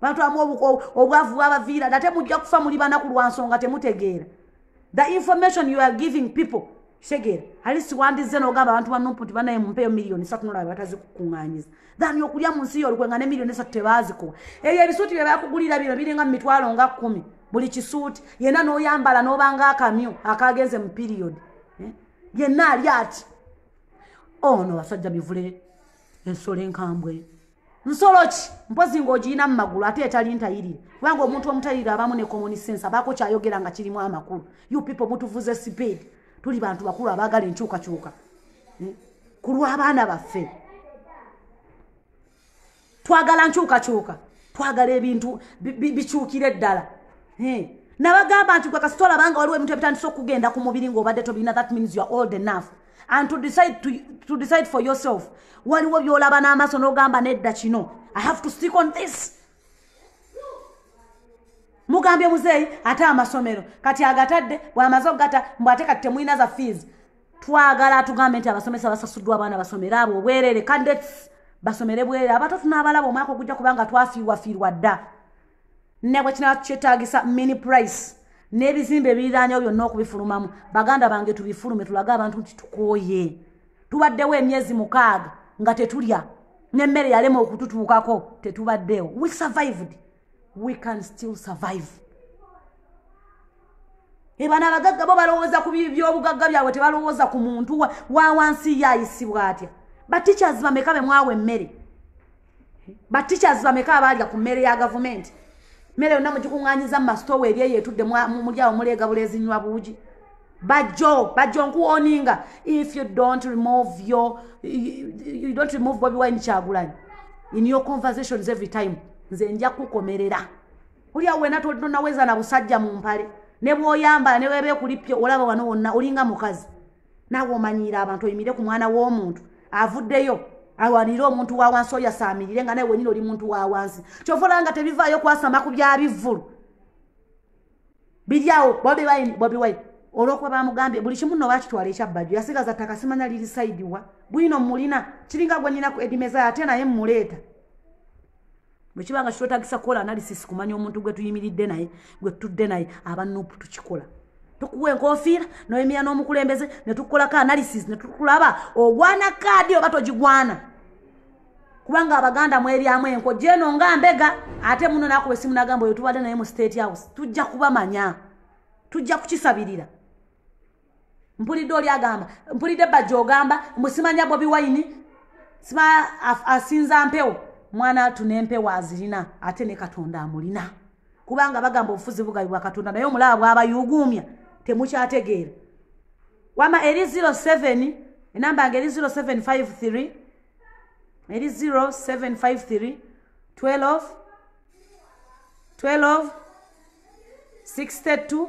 A: bantu amu obwavu bwabaviira nate mujja kufa muli banaku lwa nsonga temutegeera the information you are giving people kitegeera ali siwandizze nogamba abantu banumpu nti banaye mumpeyo miliyoni satu nolaba batazikukuŋŋanyiza thani okulya mu nsi yolukwe nga ne miliyoni esatu tebaazikuwa ebyo ebisuuti bye bakugulira bino biringa mu mitwalo nga kkumi buli kisuuti yenna n'oyambala n'obanga akamyu akaagenze mu piriyodi eh? yenna ali ati ono oh, basajja mivule ensolo enkambwe nsolo ki mpozi ng'ogiyina mu magulu ate etali ntayirire kubanga omuntu omutayirire abamu ne common sense abaako kyayogera nga kirimu amakulu you people mutuvuze speed tuli bantu bakulu abaagala enkyukakyuka eh, ku lw'abaana baffe twagala nkyukakyuka twagala ebintu bikyukire ddala eh, nabagamba nti gwe kasitolabanga waliwo ebintu ebitandisa okugenda ku mubiri ng'obadde tobirina that means you're old enough and to decide, to, to decide for yourself waliwo byolaba n'amaaso n'ogamba nedda kino i have to stick on this mugambye muzeeyi ate amasomero kati agatadde bwamaze okugata mbu ate kati temulina za fees twagala atugambe nti abasomesa basasuddwa abaana basomere abo obwerere cadets basomere bwerere abato tunaabalaba omwaka ogujja kubanga twafiirwafiirwa dda nebwekinaba kyetagisa mini price n'ebizimba ebiriranyewo byonna okubifulumamu baganda bange tubifulume tulage abantu nti tukooye tubaddewo emyezi mukaaga nga tetulya n'emmere yalema okututuukako tetubaddewo we survived we can still survive ebana abagagga bo balowooza ku byobugagga byabwe tebalowooza ku muntu wa wansi ye ayisibwa atya bateachers bameka bemwawa emmere ba teachers bameka abaalya ku mmere ya gavumenti mmere yonna mugikuŋŋanyiza mu masitoowa eri eyo etudde muli awo muleega buleezinywa buugi bajjo bajjo nkuwoninga if you don't remove your you, you don't remove bobi wine kyagulanyi in your conversations every time nze nja kukomerera oli awo wena tonaweza na busajja mu mpale ne bwoyambala ne webeekulippye olaba wano wonna olinga mukazi naawe omanyiira abantu oyimire ku mwana w'omuntu avuddeyo awanire omuntu wa wansi oyo asaamirire nga naye wenyini oli muntu wa wansi kyova olaba nga tebivaayo kwasama ku bya bivvulu biryawo bobi wine bobi wine olwokuba bamugambye buli kimu no bakitwala ekyabbajo yasigaza ttaka simanya liri saidiwa bwino mulina kiringa gwenyina ku edimeza ate naye mmuleeta bwekiba nga kitwetagisa kukola analysis kumanya omuntu gwe tuyimiridde naye gwe tutudde naye aba nup tukikola tukuwa enkofiira noyimira n'omukulembeze ne tukolako analysis ne tukulaba ogwana kaadi oba togigwana kubanga abaganda mwebyamu enko gyeno nga mbega ate muno nakuba esimu nagamba oyo tubadde naye mu state house tujja kubamanya tujja kukisabirira mpulidde oli agamba mpulidde bajja ogamba mbu simanya bobi wayini sima asinza mpewo mwana atu nempewo azirina ate ne katonda amulina kubanga bagamba obufuzi bugabi bwa katonda naye omulaba bwabayuguumya temukyategeera wama eri 07 enamba nga eri 0753 eri 0753 12 12 62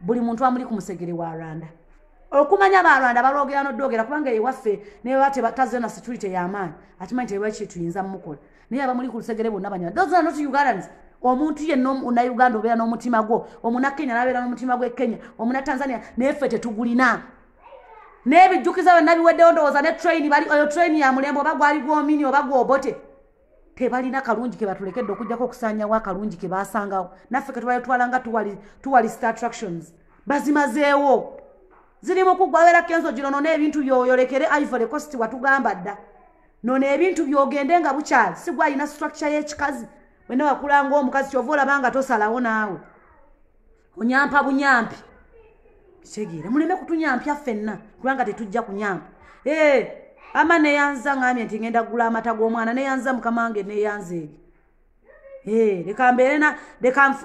A: buli muntu amuli ku musegere wa rwanda okumanya ba rwanda balwogera nodwogera kubanga ewaffe neba tebataze na security yamaanyi akimanyi tebaki tuyinza mukola naye abamuli ku lusegere bonna banyala those are not ugandans omuntu yenna na uganda obeera n'omutima gwo omuna kenya nabeera n'omutima gwe kenya omuna tanzania naye ffe tetugulina n'ebijjukiza byonna biweddewo ndowooza ne train bali oyo train ya mulembe oba gwali gwomini oba gwobote tebalina kalungi ke batulekedde okujjako okusaanyawo akalungi ke baasangawo naffe ke tubaletwala nga tuwali star attractions bazimazeewo ziri mu kuggwa abeera kenzo gino nona ebintu byoyolekere ivory cost watugamba dda nona ebintu byogende nga bukyali sigwa alina structure y'ekikazi wena wakulanga omukazi kyova olaba nga tosalawo naawe onyampa bunyampi kitegeera muleme kutunyampya ffenna kubanga tetujja kunyampa ee ama neyanza ngambye nti ngenda kugula amata g'omwana neyanza mukama wange neyanza eri ee leka mbeerena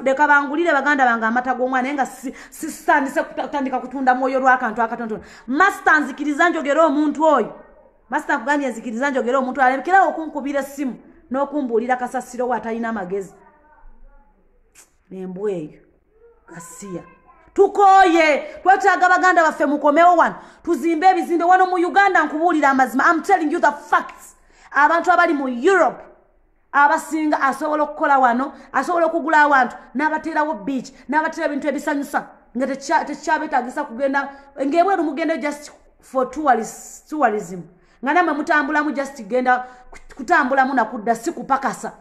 A: leka bangulire baganda bange amata g'omwana naye nga sisitandise kutandika kutunda mwoyo lwakantu akatontono masita nzikiriza njogere omuntu oyo masita nkugambye nzikiriza njogere omuntu alekerawo okunkubira essimu n'okumbuulira kasasiro we atalina amagezi embwa eyo gasiya tukooye twetaaga baganda baffe mukomewo wano tuzimbe ebizimbe wano mu uganda nkubuulira amazima am telling you the facts abantu abali mu europe abasinga asobola okukola wano asobola okugula awantu n'abateerawo beach n'abateera ebintu ebisanyusa nga tekyabetagisa kugenda ngaebweru mugenda just for tourism nga namwe mutambulamu just genda kutambulamu nakudda si kupakasa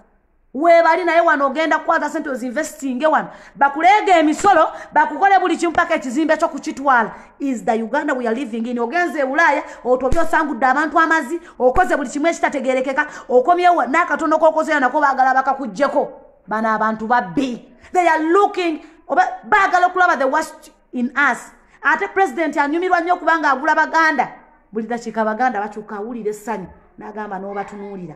A: webali naye wano ogenda kukwaza sente ozinvestinge wano bakuleega emisolo bakukole buli kimu paka ekizimbe kyo kukitwala is the uganda weare living in ogenza ebulaaya otobye osangudde abantu amazi okoze buli kimu ekitategerekeka okomyewo n'akatono kokozeyo nako baagala bakakuggyeko bano abantu babbi they are looking oba baagala okulaba the worst in us ate president anyumirwa nnyo kubanga agula baganda buli dakiika abaganda bakyuka awulira essanyu n'agamba n'obatunuulira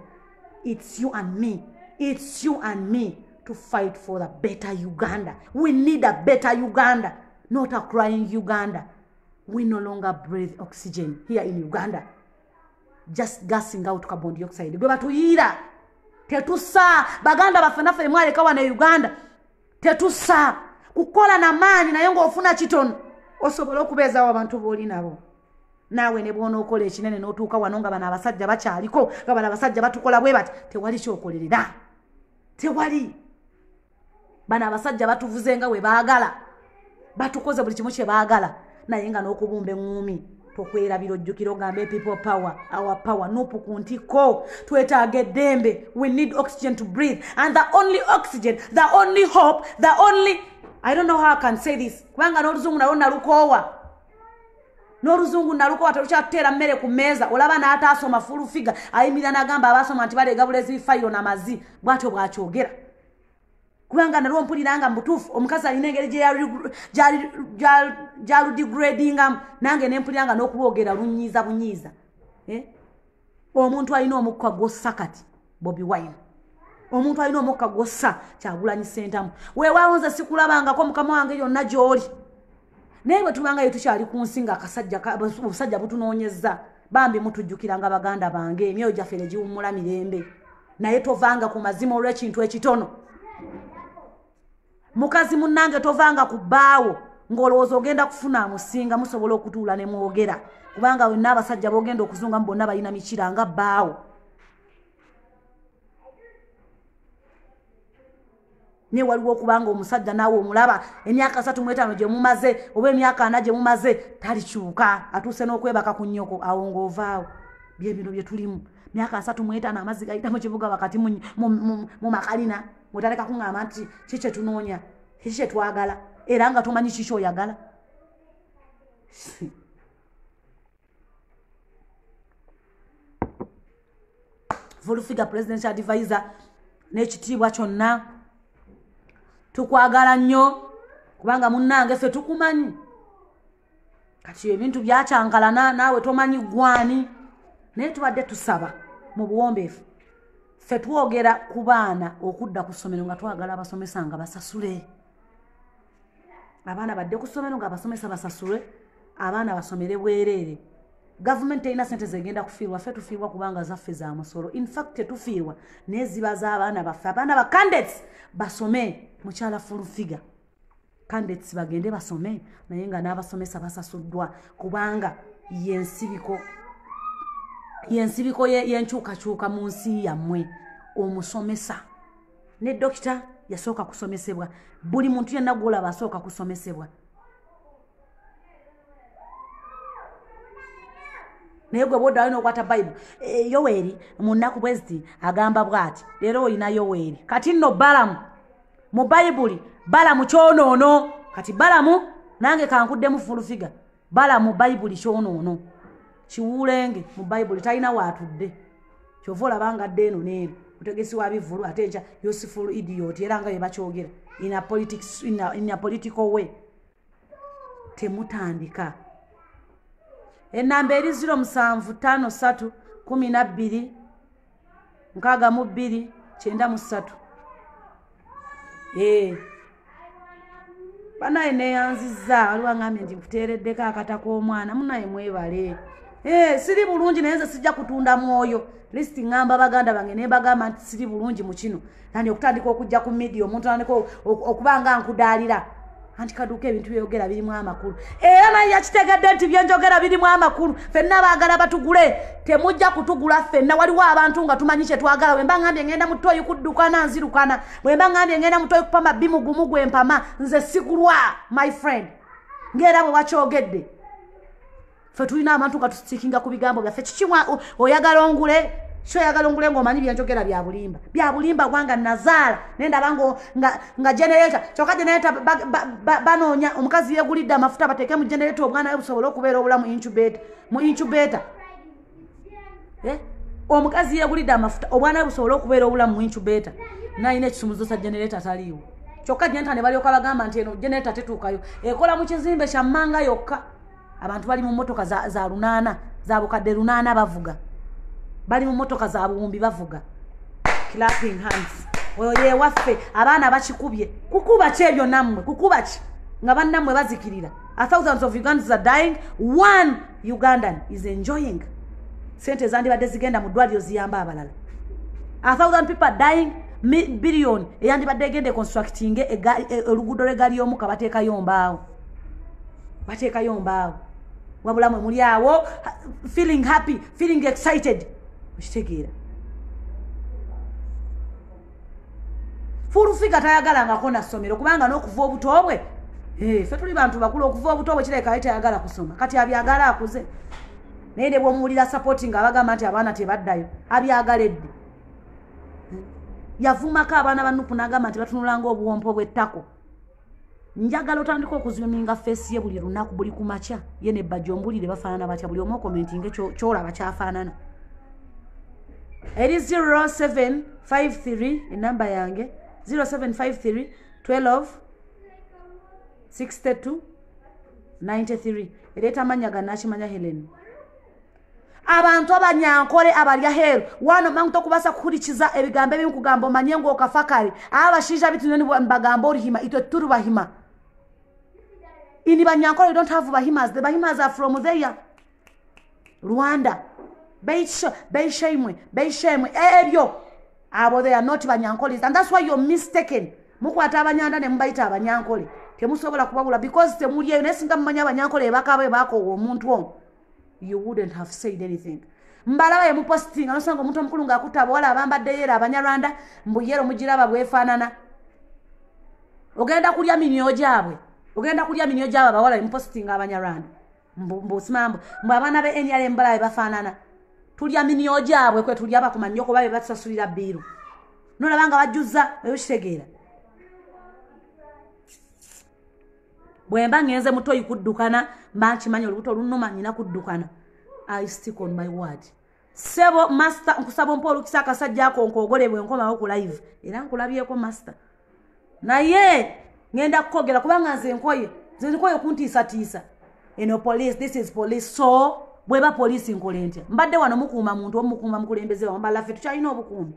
A: its you and me its you and me to fight for the better uganda we need a better uganda not a crying uganda we no longer breathe oxygen here in uganda just gassing out carbon dioxide gwe batuyiira tetusa baganda baffe naffe emwaleka wana e uganda tetusa kukola na maanyi naye ng'ofuna kitono osobola okubeezawo abantu booli nabo naawe ne bwonookola ekinene n'otuuka wano nga bano abasajja bakyaliko nga bano abasajja batukola bwe bati tewali kyokolerera tewali bano abasajja batuvuze nga we baagala batukoze buli kimu kyebaagala naye nga n'okubumba eŋŋuumi tokwerabira ojjukira ogambe people power our power nupu ku ntikko twetaaga eddembe we need oxygen to breathe and the only oxygen the only hope the only i don't know how i can say this kubanga n'oluzungu nalwo nalukoowa n'oluzungu nalukowa telukyatuteera mmere ku mmeeza olaba n'ataasoma fulufiga ayimirira n'agamba abaasoma nti baleega bulezi bifayiro na mazi bw'atyo bw'akyogera kubanga nalwo mpulira nga mubutuufu omukazi alina engeri gyaludigradingamu nange nempulira nga nokulwogera lunyiiza bunyiiza eh? omuntu alina omukka gwossa kati bobi wine omuntu alina omukka gwossa kyagulanyi sentamu wewawonze sikulabangako mukama wange yonna gyoli naye bwe tubangayo tukyali ku nsi nga akasajja obusajja butunoonyezza bambi mutujjukira nga baganda bange emyoyo gyaffe ne giwummula mirembe naye tovanga ku mazima olw'ekintu ekitono mukazi munnange tovanga ku bbaawo ng'olowooza ogenda kufuna amusinga musobola okutuula ne mwogera kubanga wenna abasajja bogenda okuzungamu bonna balina mikira nga bbaawo naye waliwo okubanga omusajja naawe omulaba emyaka asatu mwetaano gye mumaze oba emyaka ana gye mumaze talikyuka atuuse n'okwebaka ku nnyoko awo ng'ovaawo byebino bye tulimu myaka asatu mwetaano amazzi gayita mu kibuga wakati mu makalina mutaleka kuŋŋamba nti ki kye tunoonya kiki kye twagala era nga tomanyi kiki oyagala fulfiga president advisor n'ekitiibwa kyonna tukwagala nnyo kubanga munnange ffe tukumanyi kati ebintu byakyankalana naawe tomanyi gwani naye tubadde tusaba mu buwombeefu ffe twogera ku baana okudda ku ssomero nga twagala abasomesa nga basasule abaana badde ku ssomero ngaabasomesa basasulwe abaana basomere bwereere gavumenti terina sente zegenda kufiirwa ffe tufiirwa kubanga zaffe za musolo infact tetufiirwa naye ziba z'abaana baffe abaana ba candates basome mukyala fulfiga candates bagende basome naye nga n'abasomesa basasuddwa kubanga yensibiko yensibiko yenkyukakyuka mu nsi yammwe omusomesa ne dokita yasooka kusomesebwa buli muntu yenna gwolaba asooka kusomesebwa naye gwe bwodda alina okwata bayibuli e, yoweri mu nnaku bweziti agamba bwati leero olina yoweri kati nno balamu mu bayibuli balamu kyonoono kati balamu nange kankuddemu fulufiga bala mu bayibuli kyonoono kiwuulenge mu bayibuli talina waatudde kyova olaba nga dde eno neeri mutegesi wa bivulu ate ekya useful idiot era nga bebakyogera in a politics in a, in a political way temutandika enamba eri ziro musanvu tano satu kumi nabbiri nkaaga mu bbiri kyenda mu ssatu ee banaye neyanzizza waliwo angambye nti nkuteereddeko akata k'omwana munaye mwebale ee siri bulungi naye nze sijja kutunda mwoyo list ŋŋamba baganda bange ne mbagamba nti siri bulungi mu kino nandi okutandika okujja ku media omuntu andika okuba nga nkudaalira anti kaduuka ebintu byeyogera birimu amakulu era naye yakitegedde nti byenjogera birimu amakulu fenna baagala batugule temujja kutugula fenna waliwo abantu nga tumanyi kyetwagala wemba ngambye ngenda mutoyi kuddukana nzirukana wemba ngambye ngenda mutoyi kupama bimugumu gwempama nze sigulwa my friend ngaera bwe wakyogedde fe tulina abantu nga tusikinga ku bigambo byaffe kiki oyagala ongule kyo oyagala ongule ngaomanyi byenjogera byabulimba byabulimba kubanga nazaala nendaba nga generata kyoka generata banoonya omukazi yegulidde amafuta bateeke mu generata obwana we busobole okubeera obulamu incubator mu incubator eh? omukazi yegulidde amafuta obwana busobole okubeera obulamu mu incubator nalina ekisumuzo sa generator taliiwo kyokka jenta ne balyoka bagamba nti eno generator tetuukayo ekola mu kizimbe kya mmanga yokka abantu bali mu mmotoka za, za lunaana za bukadde lunaana bavuga bali mu mmotoka za buwumbi bavuga clapping hands oyo yewaffe abaana bakikubye kukuba ki ebyo nammwe kukuba ki nga bannammwe bazikirira A thousands of Ugandans are dying. One Ugandan is enjoying. Sente ezandibadde zigenda mu ddwaliro ziyamba abalala. A thousand people are dying. Billion eyandibadde egenda econstructinge e, e, oluguudo lw'eggaali y'omuka bateekayo mbaawo. Bateekayo mbaawo. Wabula mwe muli awo feeling happy, feeling excited. Okitegeera. fulufiga tayagalangako na ssomero kubanga n'okuva obuto bwe eh, fe tuli bantu bakulu okuva obuto bwe kireka ye tayagala kusoma kati abyagala akuze naye ne bwomuwulira sapoti nga abagamba nti abaana tebaddayo abyagala eddi yavumako abaana banupu nagamba nti batunulanga obuwompo bwettako njagala otandika okuzuminga feesi ye buli lunaku buli ku makya ye ne bajja ombulire bafaanana batya buli omu okomentinge kyolaba kyafaanana eri 0753 enamba yange 0753 12 62 93 ereeta amannya ga nakimanya helen abantu abanyankole abalya heru wano mangu tokubasa kuhurikiza ebigambo ebimu kugamba omanye ngu okafa kare aba abashaija bitu nyo nibagamba orihima itwe turi bahima ini banyankole don't have bahimas the bahimas are from there rwanda beisho beisho imwe beisho imwe ebyo abo they are not banyankole and that's why you're mistaken mukwata abanyanda ne mubayita abanyankole temusobola kubabula because temulyeyo naye singa mumanya abanyankole ebakabo ebakowa omuntu omu you wouldn't have said anything mbalaba yemupositinga nosanga omuntu omukulu nga akuta abawala abambadde yero abanyarwanda mbu yero mugiraba bwefaanana ogenda kulya minyo gyabwe ogenda kulya minyo gyabwe abawala yemupositinga abanyarwanda mbusimambu mbu abaana be nra mbalaba bebafaanana tulya minyo gyabwe kwe tulya bakumanya okuba bebatusasulira biiru nolaba nga bajjuza ebikitegeera bwemba ngenze mutoyi kuddukana mba nkimanyi olubuto olunuma nina kuddukana i stick on my word sebo master nkusaba ompa olukisa akasajja ako nkogole bwe nkomawo ku live era nkulabyeko master naye ngenda kukogera kubanga nze nkoye nze nkoye okuntiisatiisa eno police this is police so bweba police nkola entya mbadde wano mukuuma muntu omukuuma mukulembeze wambalaffe tukyalina obukuumi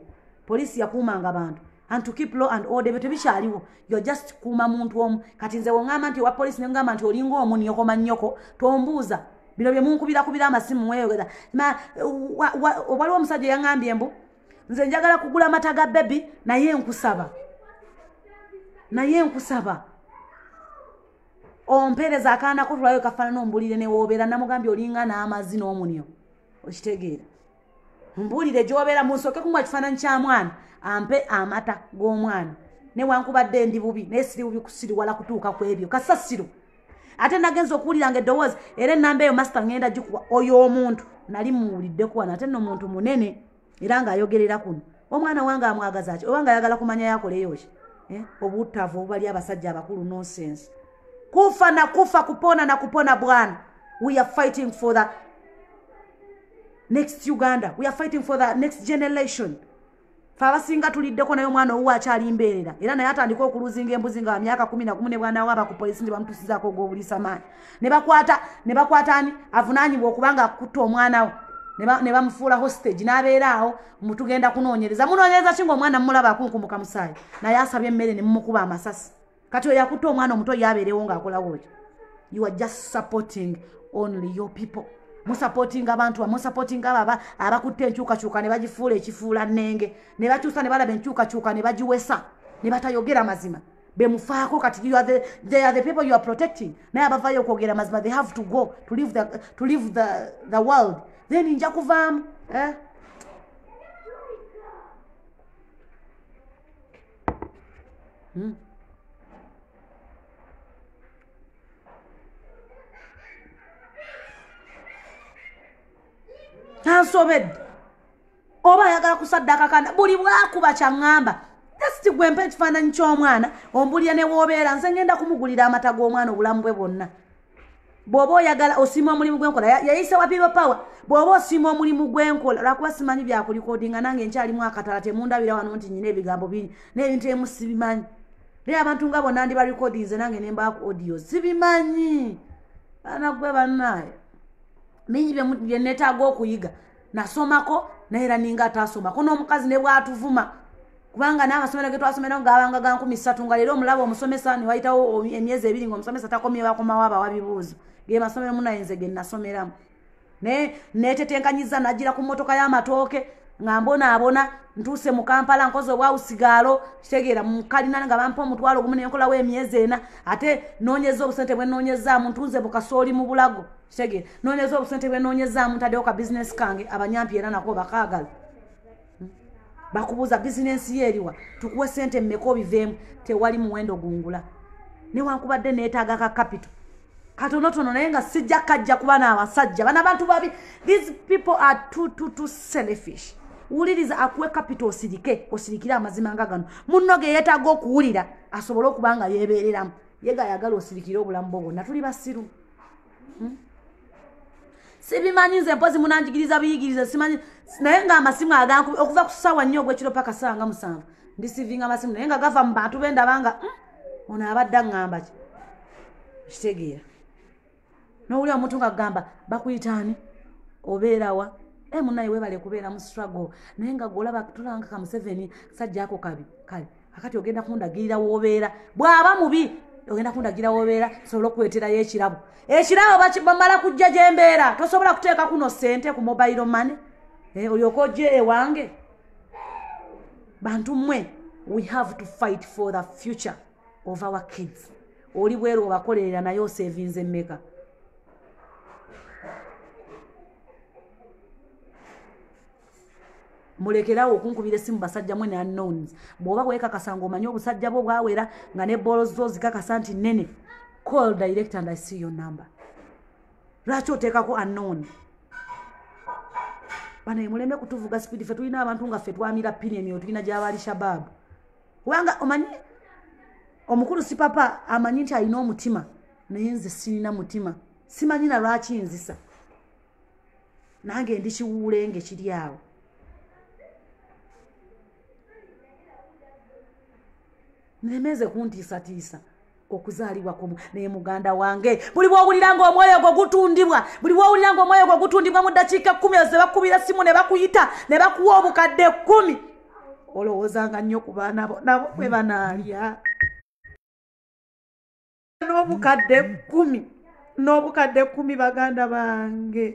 A: police yakuumanga bantu and to keep law and order ebyo tebikyaliwo you're just kuuma muntu omu kati nze wongamba nti owa poliisi nengamba nti olinga omu nyokoma nyoko tombuuza bino bye munkubira amasimu mweyogeza waliwo omusajja eyangambye mbu nze njagala kugula amata ga bebi naye nkusaba naye nkusaba ompeereza akaana kotulayo kafaanana ombulire newobeera namugambye olinga n'amazi n'omunyo okitegeera mbuulire gyobeera munsooke kumuwa ekifaananyi kya mwana ampe amata g'omwana newankubadde ndi bubi naye siri bubi kusiriwala kutuuka ku ebyo kasasiro ate nagenza okuwulira nga eddowoozi era enamba eyo masita ngenda gikuba oyo omuntu nali muwuliddeko wano ate no muntu munene era ng'ayogerera kuno omwana wange amwagaza ki oba nga ayagala kumanya yakoleyo ki eh, obuttavu obubali abasajja abakulu nonsense kufa na kufa kupona na kupona bwana we are fighting for the next uganda weare fighting for the next generation fe abasinga tuliddeko naye omwana owuwe akyali mbeerera era naye atandika okuluzinga embuzi nga wamyaka kumi nagumu ne bwana waaba ku polisi nti bamutusizaako ogwobulisa maanyi nebakwata nebakwata ani avunaanyibwa okuba nga akutta omwana wo ne bamufuula hostage n'abeera awo mutugenda kunoonyereza munoonyereza ki nga omwana mumulaba akunkumuka musaayi naye asabye emmere ne mumukuba amasasi kati oyo yakutte omwana omuto ye abeerewo ng'akolawo ki you are just supporting only your people musupportinga abantu bamusupportinga abo abakutte enkyukakyuka ne bagifuula ekifuula nnenge ne bakyusa ne balaba enkyukakyuka ne bagiwesa ne batayogera mazima bemufaako kati they are the people you are protecting naye abavayo okwogera mazima they have to go to leave the, to leave the, the world then nja kuvaamu eh? Hmm? ansobedde oba ayagala kusaddaaka kana buli bwakuba kyaŋŋamba jasiti gwe mpa ekifaananyi ky'omwana ombulira ne woobeera nze ngenda kumugulira amata g'omwana obulamu bwe bwonna bw'oba oyagala osiima omulimu gwenkola yayise wa people power bw'oba osiima omulimu gwenkola lwakuba simanyi byakulikodinga nange nkyalimu akatala temundabira wano nti nyina ebigambo bingi n'ebintu emu sibimanyi naye abantu nga bona ndi barekodinze nange nembaaku audio sibimanyi anagwe banaaye bingi byenetaaga okuyiga nasomako naye era ninga ataasomako n'omukazi ne bwatuvuma kubanga n'amasomero ge twasomera ngabanga ga nkumi ssatu nga leero omulaba omusomesa ne wayitawo emyezi ebiri ngaomusomesa takomye bakomawo abawa bibuuzo ge masomero munayenze ge nasomeramu naye neetetenkanyiza najira ku mmotoka y'amatooke nga mbonaabona ntuuse mu kampala nkozi obwawusigaalo kitegeera mukalina nga bampa omutwalo ogumu nenkolawo emyezi ena ate noonyeza obusente bwe noonyezaamu ntunze bukasooli mu bulago kitegeera noonyeza obusente bwe noonyezaamu ntaddewo ka bizinesi kange abanyampi era nako bakaagala hmm? bakubuuza bizinesi ye eriwa tukuwe sente mmeka obiveemu tewali muwendo gungula newankubadde neetaaga ka kapito katonotono naye nga sijja kajja kuba n'abasajja bana bantu babi these people are too, too, too selfish wuliriza akuwe kapito osirike osirikire amazima nga gano munno ge yeetaaga okuwulira asobole okuba nga yeebeereramu yega ayagala osirikire obulamu bwo bwonna tuli basiru hmm? sibimanyi nze mpozi munanjigiriza biyigiriza simanyi naye nga amasimu aganku okuva ku sawa nnyo ogwekiro paka sawa nga musanvu ndisivinga amasimu naye nga gava mu bantu bendaba nga hmm? ono abadde aŋŋamba ki kitegeera nowulira omuntu nga kugamba bakuyitaani obeerawa e eh, munaye webale kubeera mu struggle naye nga golaba tulanga kamuseveni sajja ako kabi kale akati ogenda kundagirira wobeera bwaba mubi ogenda kundagira wobeera sobola okuweterayo ekirabo ekirabo bamala kujja gyembeera tosobola kuteeka kuno sente ku mobile money eh, olyoka ojje ewange bantu mwe we have to fight for the future of our kids oli bweru obakolerera naye osevinze meka mulekerawo okunkubira esimu basajja mwe nanons bwoba wekakasa nga omanye obusajja bwo bwawera nga ne bolo zo zikakasa nti nene call direct and i see your number lwaki oteekako anon banaye muleme kutuvuga speed fe tulina abantu nga fe twamira pini emyoyo tulina gyabali shababu kubanga omanyi omukulu si papa amanyi nti alina omutima naye nze sirina mutima simanyi na lwaki nzisa nange ndi kiwuulenge kiri awo nemeeze kuntiisatiisa okuzaalibwa kumu naye muganda wange buli bwowulira nga omwoyo gwo gutundibwa buli bwowulira nga omwoyo gwo gutundibwa mu ddakiika ekkumi ezo nebakubira simu ne bakuyita ne bakuwa obukadde ekkumi olowoozanga nnyo ku baana bo nabo bwe banaalya n'obukadde kumi n'obukadde kumi baganda bange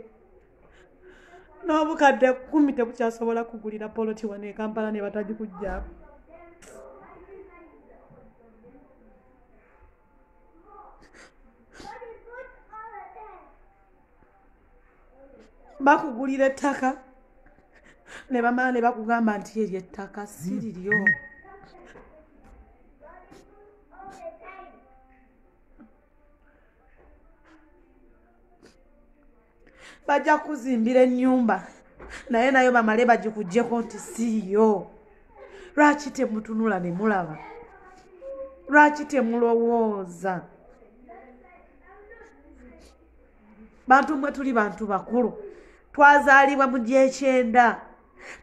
A: n'obukadde kumi tebukyasobola kugulira poloti wano ekampala ne batagikugjaako
B: bakugulira ettaka ne bamala ne bakugamba nti eryo ettaka si liryo mm -hmm. bajja kuzimbira ennyumba naye nayo bamale bagikugyeko nti siiyo lwaki temutunula ne mulaba lwaki temulowooza bantu mwe tuli bantu bakulu twazaalibwa mu gyekyenda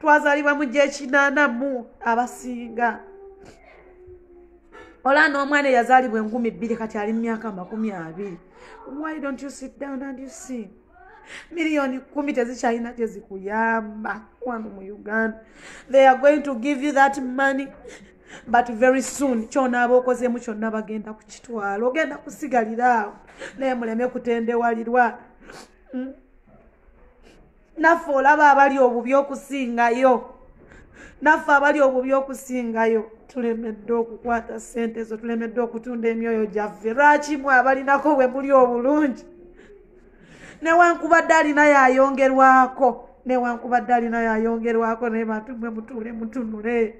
B: twazaalibwa mu gyekinanamu abasinga ola n'omwana eyazaalibwa enkumi bbiri kati ali mu myaka amakumi abiri why don't you sit down and you see miliyoni kumi tezikyalina kyezikuyamba wano mu uganda they are going to give you that money but very soon kyonaaba okozeemu kyonna bagenda ku kitwalo ogenda kusigalira awo naye muleme kutendewalirwa hmm? naffe olaba abali obubi okusingayo naffe abali obubi okusingayo tulemedde okukwata sente ezo tulemedde okutunda emyoyo gyaffe lwaki mwe abalinako bwe muli obulungi newankubadde alina yayongerwako newankubadde alina yayongerwako naye bantu mwe mutuule mutunule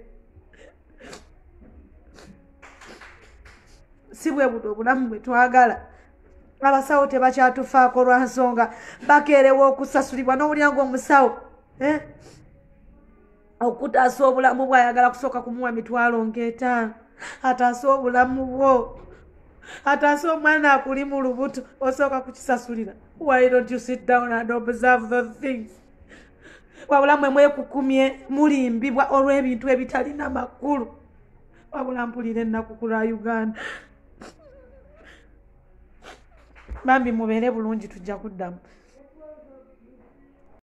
B: si bwe buno obulamu bwe twagala abasawo tebakyatufaako lwa nsonga bakeerewa okusasulibwa n'owulira ngaomusawo eh? okutaasa obulamu bwe ayagala kusooka kumuwa mitwalo ng'etaano ataase obulamu bwo ataase omwana akuli mu lubuto osooka kukisasulira why don't you sit down and observe those things wabula mwe mwekukumye mulimbibwa olw'ebintu ebitalina makulu wabula mpulira ennaku ku lwa uganda bambi mubeere bulungi tujja kuddamu